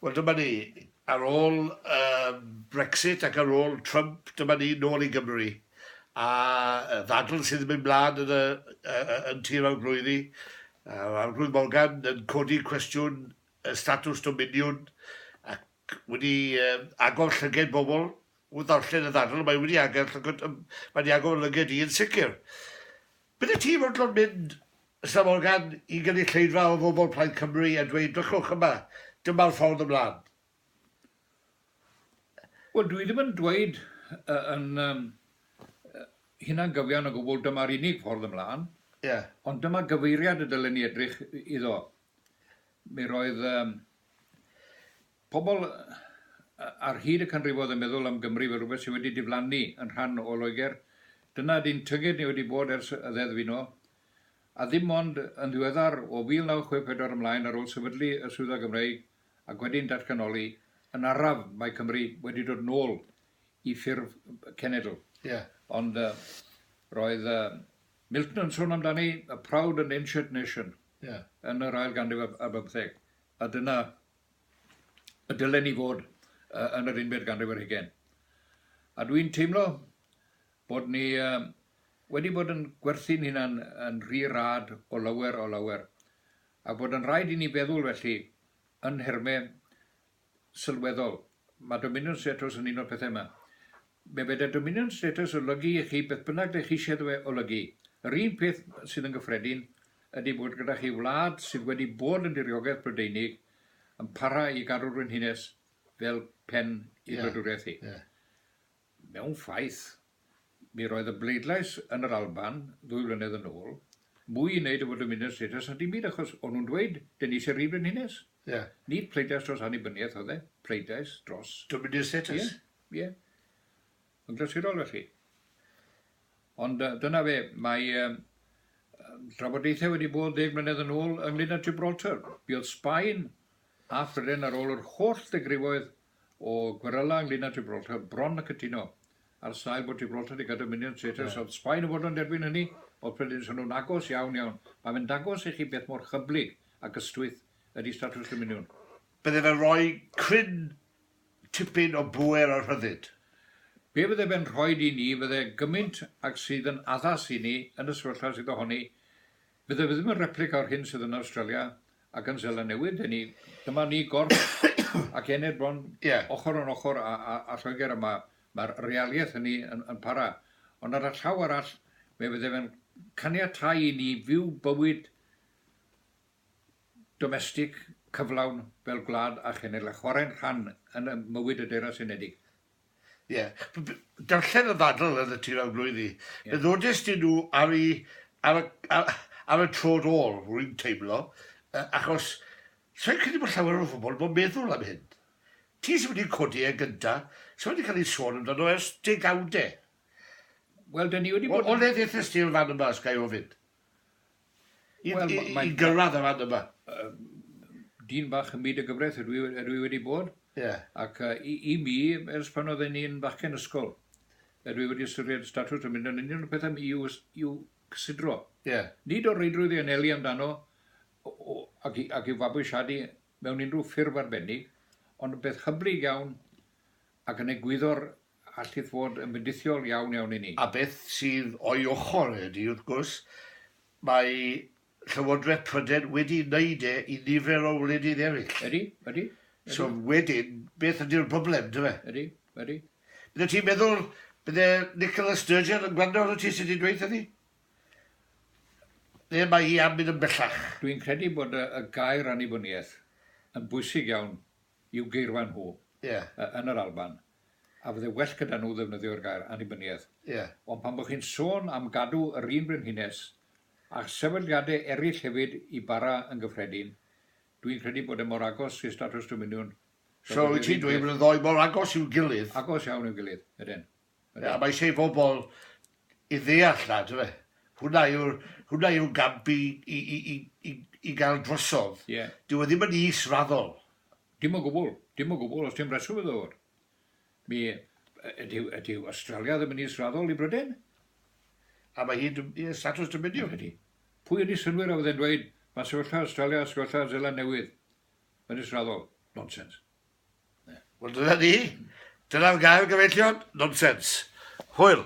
Wel dyma ni, ar ôl yym Brexit ac ar ôl Trump, dyma ni nôl i Gymru, a yy ddadl sydd yn mynd mlan yn y yy yy yn Tir Arglwyddi, a'r Arglwydd Morgan yn codi cwestiwn y statws dominiwn, ac wedi yym agor llyged bobl wrth ddarllen y ddadl, mae wedi ager llygod yym mae wedi agor 'yn lyged i yn sicr. Bydd y tîm yn dod mynd Ys y Morgan i gynulleidfa o fobl Plaid Cymru a dweud drychwch yma, dyma'r ffordd ymlaen. Wel, dwi ddim yn dweud yn hunangyfiawn o gwbl dyma'r unig ffordd ymlaen, ond dyma gyfeiriad y dylen ni edrych iddo. Mi roedd Pobl ar hyd y canrifoedd yn meddwl am Gymru fel rhywbeth sydd wedi diflannu yn rhan o Loegr. Dyna ydy'n tyged ni wedi bod ers y Ddeddf Uno. A ddim ond yn ddiweddar, o 1964 ymlaen ar ôl sefydlu y Swyddfa Gymreig ac wedyn datganoli yn araf, mae Cymru wedi dod nôl i ffurf cenedl. Ie. Ond roedd Milton yn sôn amdani, a proud and ancient nation, yn yr ail ganrif ar bymtheg, a dyna y dylen ni fod yn yr unfed ganrif ar hugain. A dwi'n teimlo bod ni wedi bod yn gwerthu'n hunan yn rhy rad o lawer o lawer, a bod yn rhaid i ni feddwl felly yn nhermau sylweddol. Mae Dominion Status yn un o'r pethau yma. Be fedar Dominion Status olygu i chi beth bynnag dych chi eisiau iddo fe olygu. Yr un peth sydd yn gyffredin ydy bod gyda chi wlad sydd wedi bod yn diriogaeth Brydeinig yn para i gadw'r frenhines fel pen ei wladwriaeth hi. Mewn ffaith, mi roedd y bleidlais yn yr Alban ddwy flynedd yn ôl mwy i wneud efo dymuniad status na dim byd achos o'n nhw'n dweud 'dyn ni eisiau Rhydd Frenhines'. Ie. Nid pleidlais dros annibyniaeth oedd e, pleidlais dros... Dymuniad status. Ie, ie. Yn glasurol felly. Ond dyna fe, mae yym trafodaethau wedi bod ddeg mlynedd yn ôl ynglŷn â Gibraltar. Mi oedd Sbaen a Phrydain ar ôl yr holl ddegrifoedd o gweryla ynglŷn â Gibraltar bron a cytuno, ar sail bod Gibraltar 'di gadw minion traitors, oedd Sbaen yn fodlon derbyn hynny, oedd Prydain yn swnio'n agos iawn, iawn. Mae fe'n dangos i chi beth mor hyblyg ac ystwyth ydi statws dominiwn. Bydde fe'n rhoi cryn tipyn o bŵer a rhyddid. Be fydde fe'n rhoid i ni fydde gymint ag sydd yn addas i ni yn y sefyllfa sydd ohoni Fydde fe ddim yn replica o'r hyn sydd yn Awstralia ac yn Seland Newydd, deni, dyma ni gorff ac ened bron ochr yn ochr â Lloegr a mae'r realiaeth hynny yn para. Ond ar y llaw arall, fe fydde fe'n caniatáu i ni fyw bywyd domestig cyflawn fel gwlad a chenedl a chwarae'n rhan yn mywyd y Deyrnas Unedig. Ie. Darllen y ddadl yn y tu mewn blwyddi. Ie. Fe ddodest ti nhw ar y, ar y, ar, ar y tro ôl, rwy'n teimlo, uh, achos sa'n credu bod llawer o bobl yn meddwl am hyn. Ti sy'n wedi codi e gynta, sy'n wedi cael ei sôn amdano ers degawdau. Wel, da ni wedi bod... O, o le ddethest ti fan yma, os gael ofyn? i gyrraedd y rhan yma. Dyn bach ym myd y gyfraith ydw i wedi bod, ac i mi, ers pan oedd e'n un bachgen ysgol, ydw i wedi ystyried statws yn mynd yn union y pethau i'w cysidro. Nid o reidrwydd i anelu amdano ac i'w fabwysiadu mewn unrhyw ffurf arbennig, ond yn beth hyblyg iawn ac yn egwyddor allith fod yn fendithiol iawn iawn i ni. A beth sydd o'i ochr e ydy, wrth gwrs, mae Llywodraeth Prydain wedi wneud e i nifer o wledydd eraill. Ydy, ydy. So wedyn, beth ydy'r broblem, dyfe? Ydy, ydy. Bydde ti'n meddwl, bydde Nicola Sturgeon yn gwrando arno ti sydd wedi dweud hynny? Neu mae hi am mynd yn bellach? Dwi'n credu bod y, y gair annibyniaeth yn bwysig iawn i'w geirfa nhw yeah. yn yr Alban. a fydde well gyda nhw ddefnyddio'r gair annibyniaeth. Ie. Ond pan bo chi'n sôn am gadw yr un brenhines, a sefydliade eraill hefyd i bara yn gyffredin, dwi'n credu bod e mor agos i statws dominiwn, So, wyt ti'n dweud bod y ddou mor agos i'w gilydd? Agos iawn i'w gilydd, ydyn. Ie, a mae eisiau i bobl i ddeall 'na, yndyfe? Hwnna yw'r, hwnna yw'r gamp i, i, i, i, i, i gael drosodd. Ie. Dyw e ddim yn is-raddol. Dim o gwbl, dim o gwbl, os dim rheswm iddo ddod. Mi, ydyw, ydyw Awstralia ddim yn israddol i Bryden? A mae hi'n statws dymuniol hynny. Pwy yn ei synwyr a fydde'n dweud, mae sefyllfa Awstralia a sefyllfa Zeland Newydd yn israddol? Nonsens. Ne. Wel, dyna ni. Dyna'r gair gyfeillion, nonsens. Hwyl.